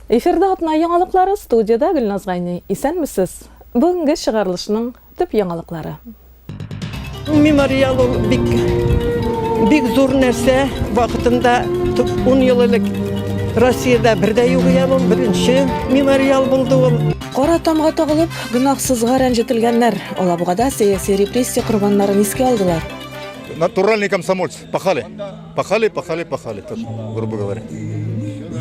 Эфирда атна яңалыклары студияда Гөлназ Гайни. Исәнмесез. Бүгенге чыгарылышның төп яңалыклары. Мемориал ул бик бик зур нәрсә. Вакытында 10 ел элек Россиядә бердә юк ия ул беренче мемориал булды ул. Кара тамга тагылып, гөнаһсызга рәнҗетелгәннәр. Алабугада сәяси репрессия корбаннарын искә алдылар. Натуральный комсомольц, пахали. Пахали, пахали, пахали, так, грубо говоря.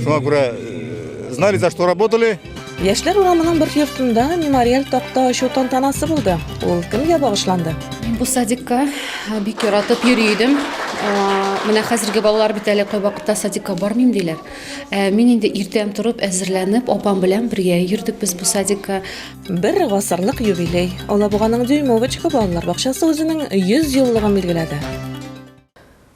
Шуңа күрә э, знали, за что работали. Яшьләр урамының бер йортында мемориаль такта ачу тантанасы булды. Ул кемгә багышланды? Мин бу садикка э, бик яратып йөри идем. Э, Менә хәзерге балалар бит әле кайвакытта садикка бармыйм диләр. Э, Мин инде иртән торып әзерләнеп, апам белән бергә йөрдек без бу садикка. Бер гасырлык юбилей. Алабуганың Дюймовочка балалар бакчасы үзенең 100 еллыгын билгеләде.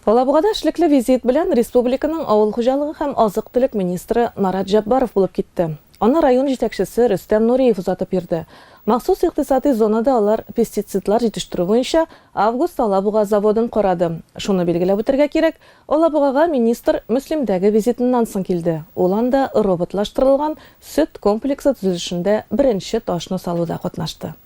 Алабугада эшлекле визит белән республиканың авыл хуҗалыгы һәм азык-төлек министры Марат Җәббаров булып китте. Аны район җитәкчесе Рөстәм Нуриев озатып йөрде. Махсус икътисади зонада алар пестицидлар җитештерү буенча Август Алабуга заводын карады. Шуны билгеләп үтәргә кирәк, Алабугага министр Мөслимдәге визитыннан соң килде, ул анда роботлаштырылган сөт комплексы төзелешендә беренче ташны салуда катнашты.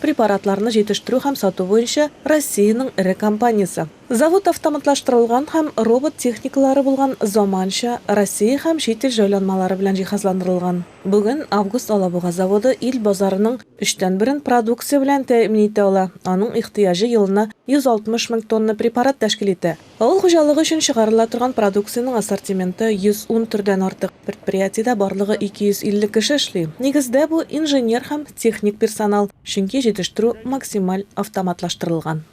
Препаратларны җитештерү һәм сату буенча Россиянең эре компаниясе. Завод автоматлаштырылган һәм робот техникалары булган заманча Россия һәм чит ил җайланмалары белән җиһазландырылган. Бүген Август Алабуга заводы ил базарының өчтән берен продукция белән тәэмин итә ала, аның ихтыяҗы елына 160 мең тонна препарат тәшкил итә. Авыл хуҗалыгы өчен чыгарыла торган продукциянең ассортименты 110 төрдән артык. Предприятиедә барлыгы 250 кеше эшли. Нигездә бу, инженер һәм техник персонал, чөнки җитештерү максималь автоматлаштырылган.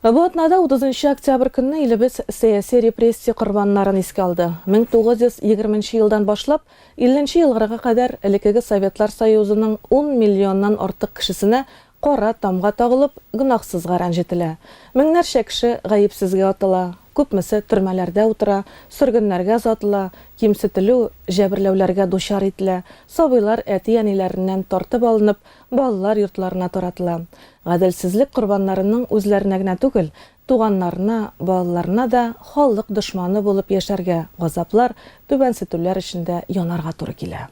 Бу атнада, 30 нчы октябрь көнне, илебез сәяси репрессия корбаннарын искә алды. 1920 нче елдан башлап, 50 нче елгырга кадәр элеккеге Советлар Союзының ун миллионнан артык кешесенә Кара тамга тагылып, гөнаһсызга рәнҗетелә. Меңнәрчә кеше гаепсезгә атыла, күпмесе төрмәләрдә утыра, сөргеннәргә озатыла, кимсетелү, җәберләүләргә дучар ителә, сабыйлар әти-әниләреннән тартып алынып, балалар йортларына таратыла. Гаделсезлек корбаннарының үзләренә генә түгел, туганнарына, балаларына да халык дошманы булып яшәргә, газаплар, түбәнсетүләр эчендә янарга туры килә.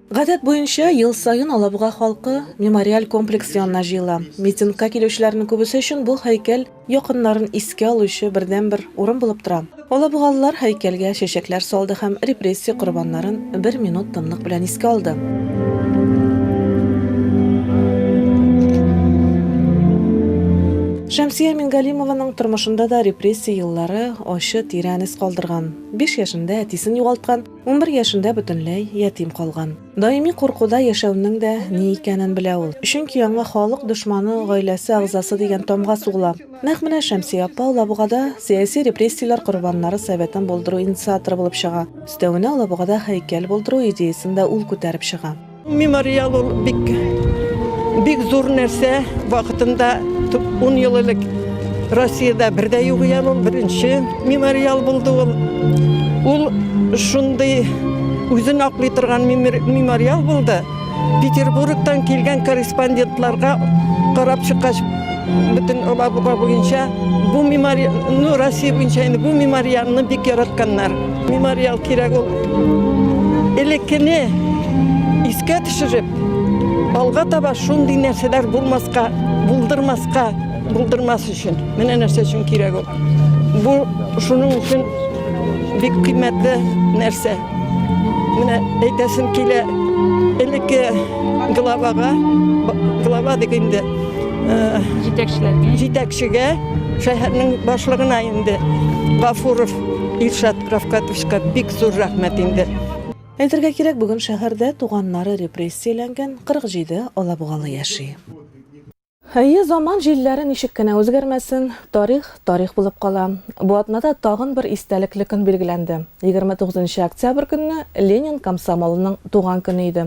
Гадәт буенча, ел саен Алабуга халкы мемориаль комплекс янына җыела. Митингка килүчеләрнең күбесе өчен бу һәйкәл якыннарын искә алучы бердәнбер урын булып тора. Алабугалылар һәйкәлгә чәчәкләр салды һәм репрессия корбаннарын бер минут тынлык белән искә алды. Шәмсия Мингалимованың тормышында да репрессия еллары ачы, тирән эз калдырган. Биш яшендә әтисен югалткан, Унбер яшендә бөтенләй ятим калган. Даими куркуда яшәүнең дә ни икәнен белә ул. Чөнки аңа халык дошманы, гаиләсе агъзасы дигән тамга сугыла. Нәкъ менә Шәмсия апа Алабугада сәяси репрессияләр корбаннары советын булдыру инициаторы булып чыга. Өстәвенә, Алабугада һәйкәл булдыру идеясен дә ул күтәреп чыга. Мемориал ул бик бик зур нәрсә. Вакытында 10 ел элек Россиядә бердә юк икән ул беренче мемориал булды ул. Ул шундый үзен аклый торган мемориал булды. Петербургтан килгән корреспондентларга карап чыккач бөтен Алабуга буенча бу мемориал, ну, Россия буенча инде бу мемориалны бик яратканнар. Мемориал кирәк ул. Элеккене искә төшереп, алга таба шундый нәрсәләр булмаска, булдырмаска, булдырмас өчен. Менә нәрсә өчен кирәк ул. Бу шуның өчен бик кыйммәтле нәрсә. Менә әйтәсем килә, элекке главага, глава дип инде, җитәкчеләргә, җитәкчегә, шәһәрнең башлыгына инде Гафуров Илшат Рафкатовичка бик зур рәхмәт инде. Әйтергә кирәк, бүген шәһәрдә туганнары репрессияләнгән 47 алабугалы яши. Әйе, заман җилләре ничек кенә үзгәрмәсен, тарих, тарих булып кала. Бу атнада тагын бер истәлекле көн билгеләнде. 29 нчы октябрь көнне Ленин комсомолының туган көне иде.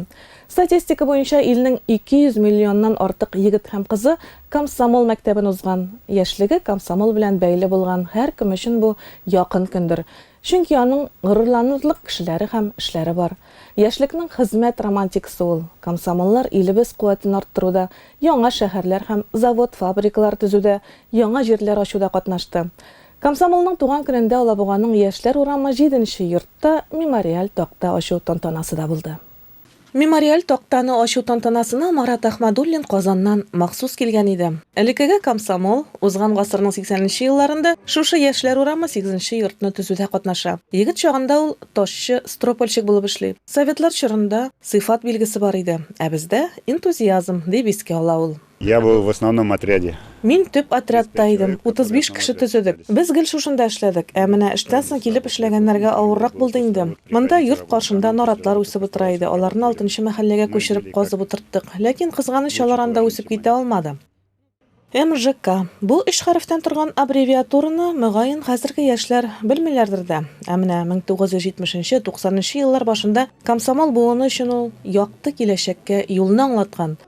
Статистика буенча, илнең 200 миллионнан артык егет һәм кызы Комсомол мәктәбен узган, яшьлеге комсомол белән бәйле булган һәркем өчен бу якын көндер, чөнки аның горурланырлык кешеләре һәм эшләре бар. Яшьлекнең хезмәт романтикасы ул. Комсомоллар илебез куәтен арттыруда, яңа шәһәрләр һәм завод-фабрикалар төзүдә, яңа җирләр ачуда катнашты. Комсомолның туган көнендә Алабуганың Яшьләр урамы җиденче йортта мемориаль такта ачу тантанасы да булды. Мемориаль тактаны ачу тантанасына Марат Әхмәдуллин Казаннан махсус килгән иде. Элеккеге комсомол, узган гасырның сиксәненче елларында шушы Яшьләр урамы сигезенче йортны төзүдә катнаша. Егет чагында ул ташчы, стропольщик булып эшли. Советлар чорында сыйфат билгесе бар иде, ә бездә, энтузиазм, дип искә ала ул. Я был в основном отряде. Мин төп отрядта идем, 35 кеше төзедек. Без гел шушында эшләдек. Ә менә эштән соң килеп эшләгәннәргә авыррак булды инде. Монда йорт каршында наратлар үсеп утыра иде, аларны алтынчы мәхәлләгә күчереп казып утырттык. Ләкин, кызганыч, алар анда үсеп китә алмады. МЖК. Бу өч хәрефтән торган аббревиатураны, мөгаен, хәзерге яшьләр белмиләрдер дә. Ә менә 1970-90 нчы еллар башында комсомол буыны өчен ул якты киләчәккә юлны аңлаткан,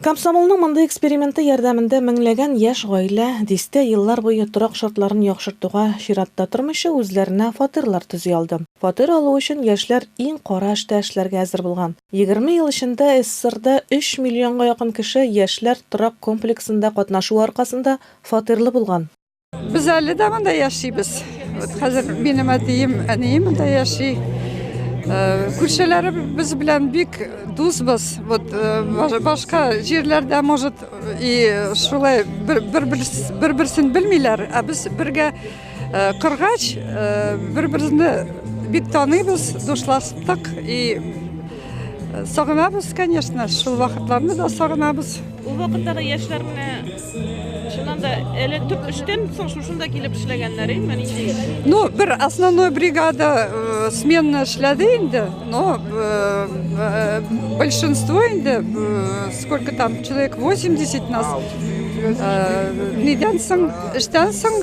Комсомолның мондый эксперименты ярдәмендә меңләгән яшь гаилә, дистә еллар буе торак шартларын яхшыртуга чиратта тормыйча, үзләренә фатирлар төзи алды. Фатир алу өчен яшьләр иң кара эштә эшләргә әзер булган. Егерме ел эчендә СССРда өч миллионга якын кеше яшьләр торак комплексында катнашуы аркасында фатирлы булган. Без әле дә монда яшибез. Вот хәзер минем әтием, әнием монда яши. Э, Күршеләре без белән бик дусбыз. Вот э, башка җирләрдә может и шулай бер-берсен белмиләр, а без бергә э, кыргач бер-берне бик таныйбыз, дуслаштык и сагынабыз, конечно, шул вакытларны да сагынабыз. Ул вакыттагы яшьләр менә Чыннан да әле төп эштән соң шушында килеп эшләгәннәр инде нинди? Ну, бер основной бригада э, сменна эшләде инде, но э, э, большинство инде, э, сколько там, человек 80 нас, э, нидән соң, эштән соң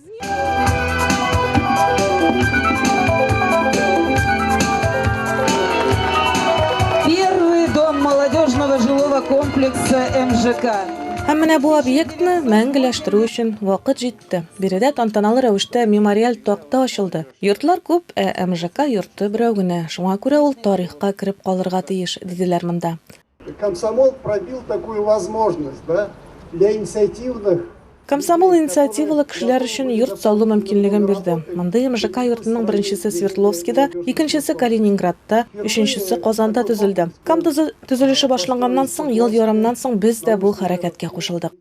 Первый дом молодежного жилого комплекса МЖК. Һәм менә бу объектны мәңгеләштерү өчен вакыт җитте. Биредә тантаналы рәвештә мемориаль такта ачылды. Йортлар күп, ә МЖК йорты берәү генә. Шуңа күрә ул тарихка кереп калырга тиеш, диделәр монда. Комсомол пробил такую возможность, да, для инициативных Комсомол инициативалы кешеләр өчен йорт салу мөмкинлеген бирде. Мондый МЖК йортының беренчесе Свердловскида, икенчесе Калининградта, өченчесе Казанда төзелде. Кам төзелеше башланганнан соң, ел ярымнан соң без дә бу хәрәкәткә кушылдык.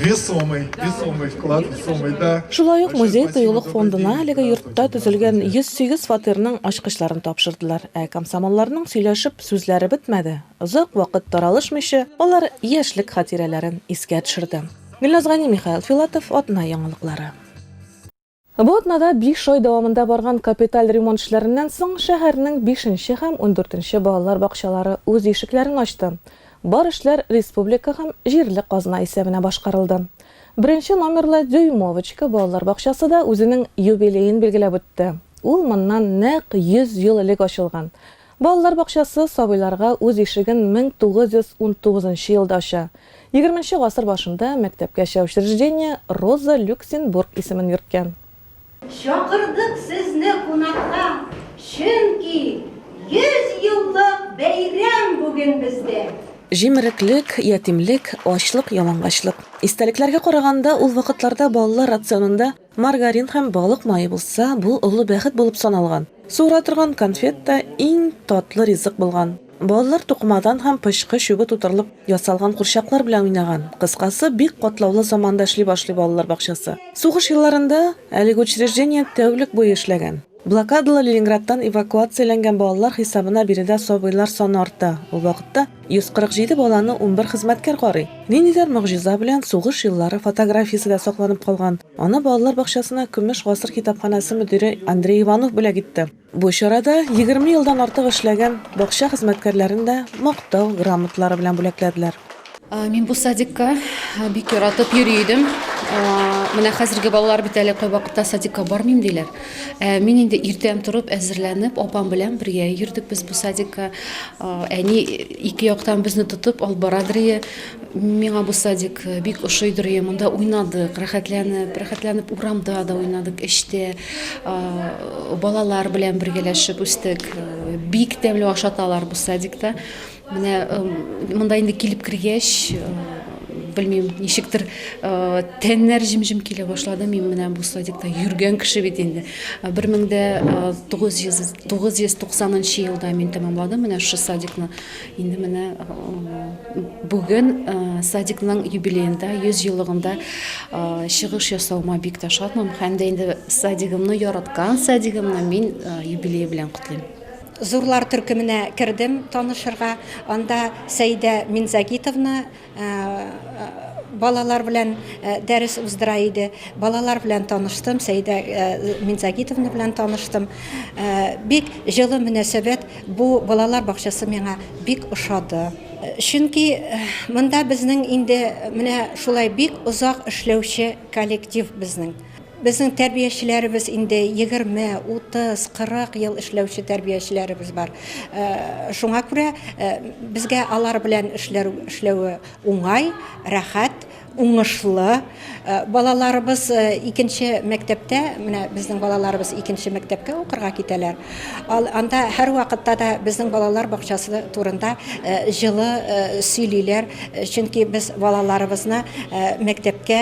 Весомый, весомый вклад, весомый, да. Шулай ук музей тыюлык фондына әлеге йортта төзелгән 108 фатирның ачкычларын тапшырдылар. Ә комсомолларның сөйләшеп сүзләре бетмәде. Озак вакыт таралышмыйча, алар яшьлек хатирәләрен искә төшерде. Гөлназ Гани, Михаил Филатов, Атна яңалыклары. Бу атнада биш ай дәвамында барган капиталь ремонт эшләреннән соң шәһәрнең бишенче һәм ундүртенче балалар бакчалары үз ишекләрен ачты. Бар эшләр республика һәм җирле казна исәбенә башкарылды. Беренче номерлы Дюймовочка балалар бакчасы да үзенең юбилеен билгеләп үтте. Ул моннан нәкъ 100 ел элек ачылган. Балалар бакчасы сабыйларга үз ишеген 1919 нчы елда ача. Егерменче гасыр башында мәктәпкәчә учреждение Роза Люксембург исемен йөрткән. Чакырдык сезне кунакка, чөнки 100 еллык бәйрәм бүген бездә! Җимереклек, ятимлек, ачлык, ялангачлык. Истәлекләргә караганда, ул вакытларда балалар рационында Маргарин һәм балык мае булса, бу олы бәхет булып саналган. Суыра торган конфет та иң татлы ризык булган. Балалар тукымадан һәм пычкы чүбе тутырылып ясалган курчаклар белән уйнаган. Кыскасы, бик катлаулы заманда эшли башлый балалар бакчасы. Сугыш елларында әлеге учреждение тәүлек буе эшләгән. Блокадалы Ленинградтан эвакуацияләнгән балалар хисабына биредә сабыйлар саны арта. Ул вакытта 147 баланы унбер хезмәткәр карый. Ниндидер могҗиза белән сугыш еллары фотографиясе дә сакланып калган. Аны балалар бакчасына Көмеш гасыр китапханәсе мөдире Андрей Иванов бүләк итте. Бу чарада егерме елдан артык эшләгән бакча хезмәткәрләрен дә Мактау грамоталары белән бүләкләделәр. Мин бу садикка бик яратып йөри идем. Менә хәзерге балалар бит әле кайвакытта садикка бармыйм диләр. Мин инде иртән торып, әзерләнеп, апам белән бергә йөрдек без бу садикка. Әни ике яктан безне тотып алып барадыр ие. Миңа бу садик бик ошыйдыр ие. Монда уйнадык, рәхәтләнеп, рәхәтләнеп урамда да уйнадык, эчтә балалар белән бергәләшеп үстек. Бик тәмле ашаталар бу садикта. Менә монда инде килеп кергәч, белмим, ничектер тәннәр җем-җем килә башлады. Мин менә бу садикта йөргән кеше бит инде. 1990 елда мин тәмамладым менә шушы садикны. Инде менә бүген садикның юбилеенда, 100 еллыгында чыгыш ясаума бик тә шатмын. Һәм дә инде садигымны, яраткан садигымны мин юбилее белән котлыйм. Зурлар төркеменә кердем танышырга. Анда Сәидә Минзагитовна балалар белән дәрес уздыра иде. Балалар белән таныштым, Сәидә Минзагитовна белән таныштым. Бик җылы мөнәсәбәт, бу балалар бакчасы миңа бик ошады. Чөнки монда безнең инде менә шулай бик озак эшләүче коллектив безнең. Безнең тәрбиячеләребез инде егерме, утыз, кырык ел эшләүче тәрбиячеләребез бар. Шуңа күрә безгә алар белән эшләүе уңай, рәхәт, уңышлы. Балаларыбыз икенче мәктәптә, менә безнең балаларыбыз икенче мәктәпкә укырга китәләр. Анда һәрвакытта да безнең балалар бакчасы турында җылы сөйлиләр, чөнки без балаларыбызны мәктәпкә,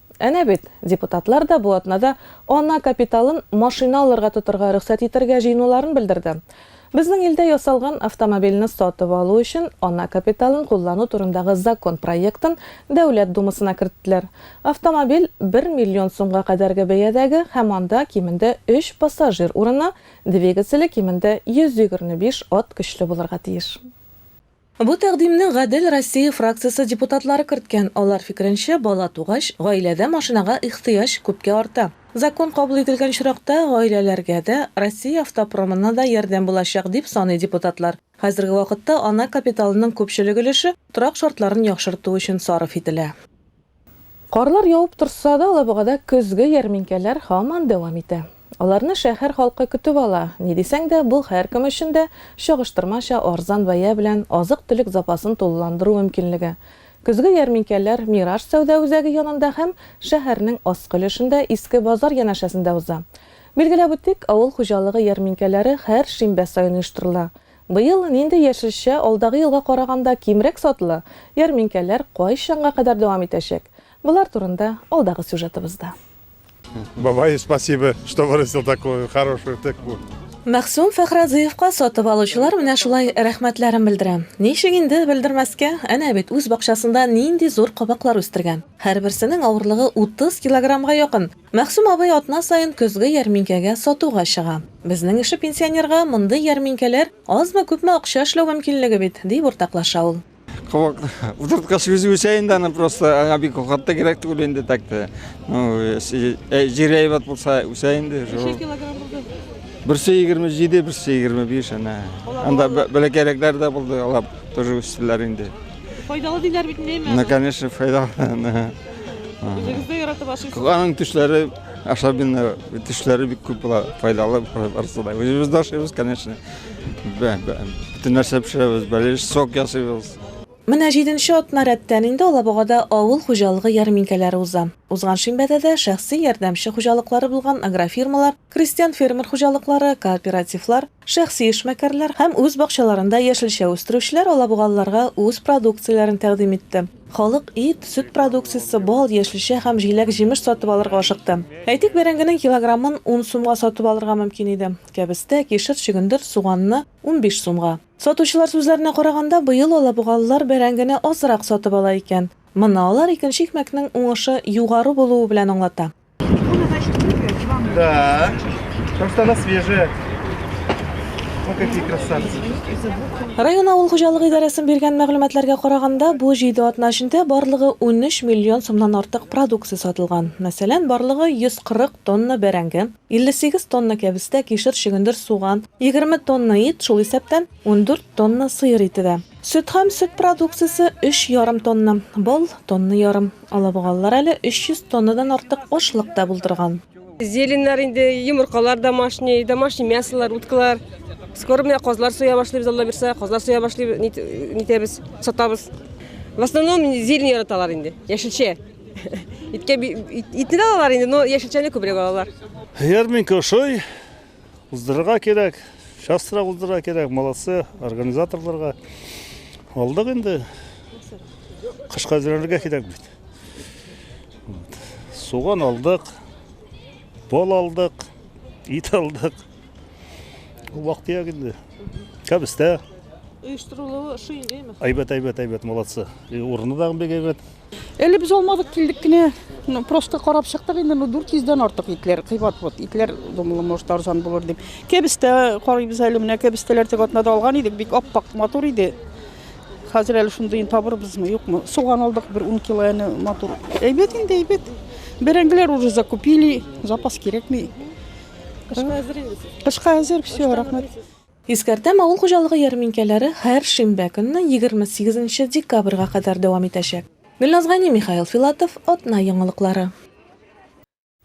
Әнә бит, депутатлар да бу атнада ана капиталын машина алырга тотарга рөхсәт итәргә җыенуларын белдерде. Безнең илдә ясалган автомобильне сатып алу өчен ана капиталын куллану турындагы закон проектын Дәүләт Думасына керттеләр. Автомобиль бер миллион сумга кадәрге бәядәге һәм анда кимендә өч пассажир урыны, двигателе кимендә 125 ат көчле булырга тиеш. Бу тәкъдимне Гадел Россия фракциясе депутатлары керткән. Алар фикеренчә, бала тугач, гаиләдә машинага ихтыяҗ күпкә арта. Закон кабул ителгән очракта, гаиләләргә дә, Россия автопромына да ярдәм булачак, дип саный депутатлар. Хәзерге вакытта ана капиталының күпчелек өлеше торак шартларын яхшырту өчен сарыф ителә. Карлар явып торса да, Алабугада көзге ярминкәләр һаман дәвам итә. Аларны шәһәр халкы көтеп ала. Ни дисәң дә, бу һәркем өчен дә чагыштырмача арзан бәя белән азык-төлек запасын тулыландыру мөмкинлеге. Көзге ярминкәләр Мираж сәүдә үзәге янында һәм шәһәрнең аскы өлешендә Иске базар янәшәсендә уза. Билгеләп үтик, авыл хуҗалыгы ярминкәләре һәр шимбә саен оештырыла. Быел нинди яшелчә алдагы елга караганда кимрәк сатыла, ярминкәләр кайчанга кадәр дәвам итәчәк? Болар турында алдагы сюжетыбызда. Бабай, спасибо, что вырастил такую хорошую тыкву. Мәгъсүм Фәхразыевка сатып алучылар менә шулай рәхмәтләрен белдерә. Ничек инде белдермәскә, әнә бит үз бакчасында нинди зур кабаклар үстергән. Һәрберсенең авырлыгы 30 килограммга якын. Мәгъсүм абый атна саен көзге ярминкәгә сатуга чыга. Безнең ише пенсионерга мондый ярминкәләр азмы-күпме акча эшләү мөмкинлеге бит, дип уртаклаша ул. Кабак утырткач үзе үсә инде аны просто, аңа бик ухат та кирәк түгел инде так та. Ну, җир әйбәт булса үсә инде. Ничә килограмм булды? Берсе 27, берсе 25 ана. Анда бәләкәйрәкләр дә булды, алар тоже үстеләр инде. Файдалы диләр бит инде әмма. Ну, конечно, файдалы. Үзегез дә яратып ашыйсыз. Аның төшләре особенно төшләре бик күп була, файдалы барысы да. Үзебез дә ашыйбыз, конечно. Бөтен нәрсә пешерәбез, бәлеш сок ясыйбыз. Менә җиденче атна рәттән инде Алабугада авыл хуҗалыгы ярминкәләре уза. Узган шимбәдә дә шәхси ярдәмче хуҗалыклары булган агрофирмалар, крестьян-фермер хуҗалыклары, кооперативлар, Шәхси эшмәкәрләр һәм үз бакчаларында яшелчә үстерүчеләр алабугалыларга үз продукцияләрен тәкъдим итте. Халык ит, сөт продукциясе, бал, яшелчә һәм җиләк-җимеш сатып алырга ашыкты. Әйтик, бәрәңгенең килограммын ун сумга сатып алырга мөмкин иде, кәбестә, кишер, чөгендер, суганны, унбиш сумга. Сатучылар сүзләренә караганда, быел алабугалылар бәрәңгене азрак сатып ала икән. Моны алар икенче икмәкнең уңышы югары булуы белән аңлата. Икона, значит, выиграет с вами. Да. Потому что она свежая. Вот какие красавцы. Район авыл хуҗалыгы идарәсен биргән мәгълүматларга караганда, бу 7 атна эчендә барлыгы 13 миллион сумнан артык продукция сатылган. Мәсәлән, барлыгы 140 тонна бәрәңге, 58 тонна кәбестә, кишер, чөгендер, суган, 20 тонна ит, шул исәптән 14 тонна сыер ите дә. Сөт һәм сөт продукциясе, өч ярым тонна, бал, тонна ярым. Алабугалылар әле 300 тоннадан артык ашлык та булдырган. Зеленнар инде, йомыркалар домашний, домашний мясолар, уткалар. Скоро менә казлар суя башлыйбыз, Алла бирса, казлар суя башлыйбыз, нитәбез, сатабыз. В основном зелень яраталар инде, яшелчә. Иткә, итне дә алалар инде, но яшелчәне күбрәк алалар. Ярминкә ошый, Уздырырга кирәк, частрак уздырырга кирәк, молодцы, организаторларга. Алдык инде. Кышка әзерләнергә кирәк бит. Вот. Суган алдык, бал алдык, ит алдык. Ул вакыт як инде. Кәбестә. Оештырылуы шундыймы? Әйбәт, әйбәт, әйбәт, молодцы. И урыны да бик әйбәт. Әле без алмадык, килдек кенә. Ну, просто карап чыктык инде, ну, 400 дән артык итләр, кыйбат вот, итләр, думала, может, арзан булыр дип. Кәбестә карыйбыз әле, менә кәбестәләр теге атнада алган идек, бик аппак, матур иде. Хәзер әле шундыйын табырбызмы, юкмы? Суган алдык бер 10 кило, әне матур. Әйбәт инде, әйбәт. Бәрәңгеләр уже закупили, запас кирәкми. Кышка әзер инде. Кышка әзер, все, рәхмәт. Искәртәм, авыл хуҗалыгы ярминкәләре һәр шимбә көнне, егерме сигезенче декабрьга кадәр дәвам итәчәк. Гөлназ Гани, Михаил Филатов, Атна яңалыклары.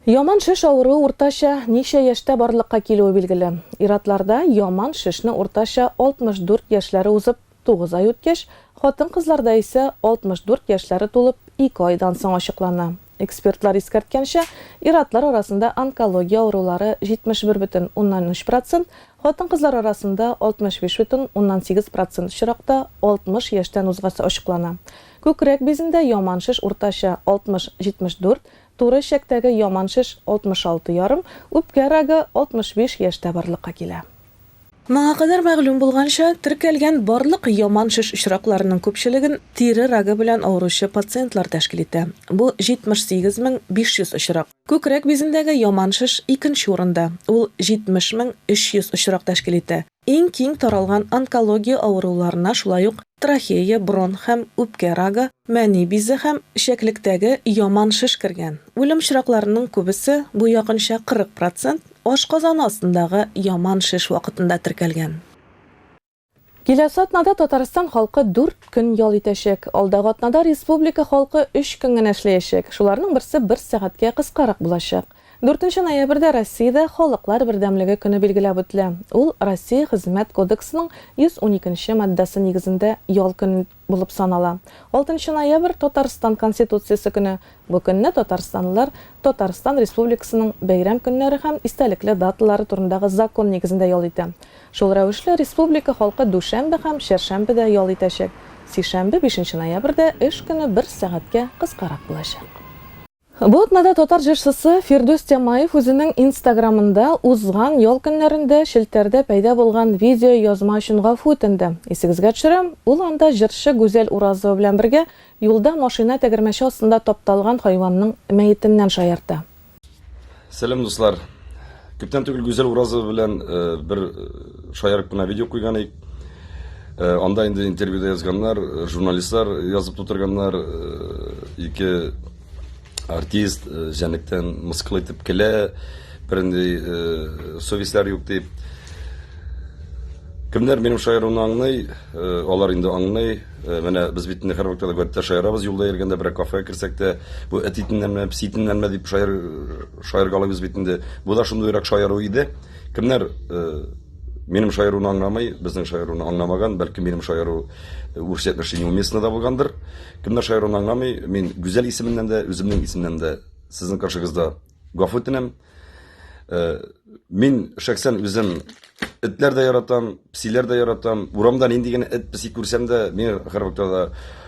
Яман шеш авыруы уртача ничә яшьтә барлыкка килүе билгеле. Ир-атларда яман шешне уртача 64 яшьләре узып, Тугыз ай үткәч, хатын-кызларда исә 64 яшьләре тулып, ике айдан соң ачыклана. Экспертлар искәрткәнчә, ир-атлар арасында онкология авырулары 71,3 процент, хатын-кызлар арасында 65,8 процент очракта 60 яшьтән узгач ачыклана. Күкрәк бизендә яман шеш уртача 60-74, туры эчәктәге яман шеш 66 ярым, үпкә рагы 65 яшьтә барлыкка килә. Моңа кадәр мәгълүм булганча, теркәлгән барлык яман шеш очракларының күпчелеген тире рагы белән авыручы пациентлар тәшкил итә. Бу 78 мең 500 очрак. Күкрәк бизендәге яман шеш икенче урында, ул 70 мең 300 очрак тәшкил итә. Иң киң таралган онкология авыруларына шулай ук трахея, бронх һәм үпкә рагы, мәни бизе һәм эчәклектәге яман шеш кергән. Үлем очракларының күбесе, бу якынча 40 процент, Ашказаны астындагы яман шеш вакытында теркәлгән. Киләсе атнада Татарстан халкы дүрт көн ял итәчәк. Алдагы атнада республика халкы өч көн генә эшләячәк. Шуларның берсе бер сәгатькә кыскарак булачак. Дүртенче ноябрьдә Россиядә Халыклар бердәмлеге көне билгеләп үтелә. Ул Россия Хезмәт кодексының 112 нче маддәсе нигезендә ял көне. булып санала. Алтынчы ноябрь, Татарстан Конституциясе көне. Бу көнне татарстанлылар Татарстан Республикасының бәйрәм көннәре һәм истәлекле даталары турындагы закон нигезендә ял итә. Шул рәвешле республика халкы дүшәмбе һәм чәршәмбе дә ял итәчәк. Сишәмбе, бишенче ноябрьдә эш көне бер сәгатькә кыскарак булачак. Бу атнада татар җырчысы Фирдүс Тямаев үзенең инстаграмында узган ял көннәрендә челтәрдә пәйда булган видеоязма өчен гафу үтенде. Исегезгә төшерәм, ул анда җырчы Гүзәл Уразова белән бергә юлда машина тәгәрмәче астында тапталган хайванның мәетеннән шаярта. Сәлам дуслар! Күптән түгел Гүзәл Уразова белән бер шаярып кына видео куйган идек. Анда инде интервьюда язганнар, журналистлар язып тутырганнар, ике артист җәнлектән мыскыл итеп көлә, бернинди совестьләр юк дип. Кемнәр минем шаярыуны аңлый, алар инде аңлый. Менә без бит инде һәрвакытта да гадәттә шаярабыз, юлда йөргәндә, берәр кафега керсәк тә, бу эт итеннәнме, песи итеннәнме дип шаяр, шаяргалыйбыз бит инде. Бу да шундыйрак шаяру иде. Кемнәр минем шаяруны аңламый, безнең шаяруны аңламаган, бәлки минем шаяру үрсәтмешли неуместно да булгандыр. Кемнәр шаяруны аңламый, мин Гүзәл исеменнән дә, үземнең исемнән дә сезнең каршыгызда Гафу үтенәм. Э, мин шәхсән үзем этләр дә яратам, псиләр дә яратам. Урамда нинди генә эт, пси күрсәм дә, мин һәрвакытта да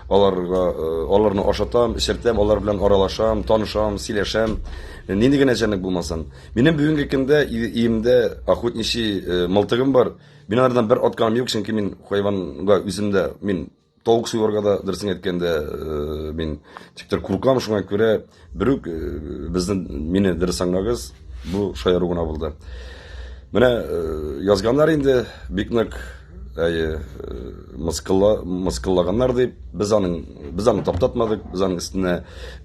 аларга э, аларны ашатам, эчертәм, алар белән аралашам, танышам, сөйләшәм. Нинди генә җәнлек булмасын. Минем бүгенге көндә иемдә охотничий э, мылтыгым бар. Мин алардан бер атканым юк, чөнки мин хайванга үземдә мин Тавык суюларга да дөресен әйткәндә э, мин типтер куркам, шуңа күрә берүк э, безнең мине дөрес аңлагыз, бу шаяру гына булды. Менә э, язганнар инде бик нык әйе мыскыллаганнар дип без аның без аны таптатмадык без аның өстенә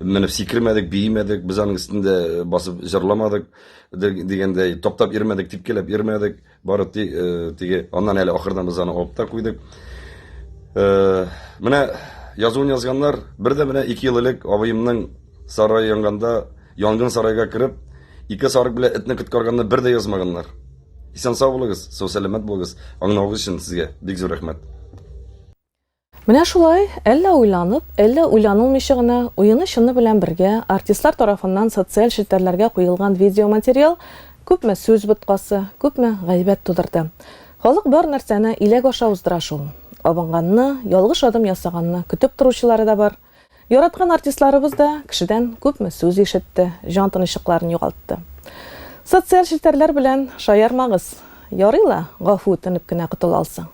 менеп сикермәдек биемәдек без аның өстендә басып җырламадык дигәндәй таптап йөрмәдек типкеләп йөрмәдек Бары ти, э, теге, аннан әле ахырдан без аны алып та куйдык. Э, менә язуын язганнар, бер дә менә ике ел элек абыемның сарае янганда, янгын сарайга кереп, ике сарык белән этне коткарганны бер дә язмаганнар. Исән сау булыгыз, сау сәламәт булыгыз. Аңнавыгыз өчен сезгә бик зур рәхмәт. Менә шулай, әллә уйланып, әллә уйланылмыйча гына, уены-чыны белән бергә, артистлар тарафыннан социаль челтәрләргә куелган видеоматериал күпме сүз боткасы, күпме гайбәт тудырды. Халык бар нәрсәне иләк аша уздыра шул. Абынганны, ялгыш адым ясаганны көтеп торучылары да бар. Яраткан артистларыбыз да кешедән күпме сүз ишетте, җан тынычлыкларын югалтты. Социаль челтәрләр белән шаярмагыз. Ярый ла, гафу үтенеп кенә котыла алсаң.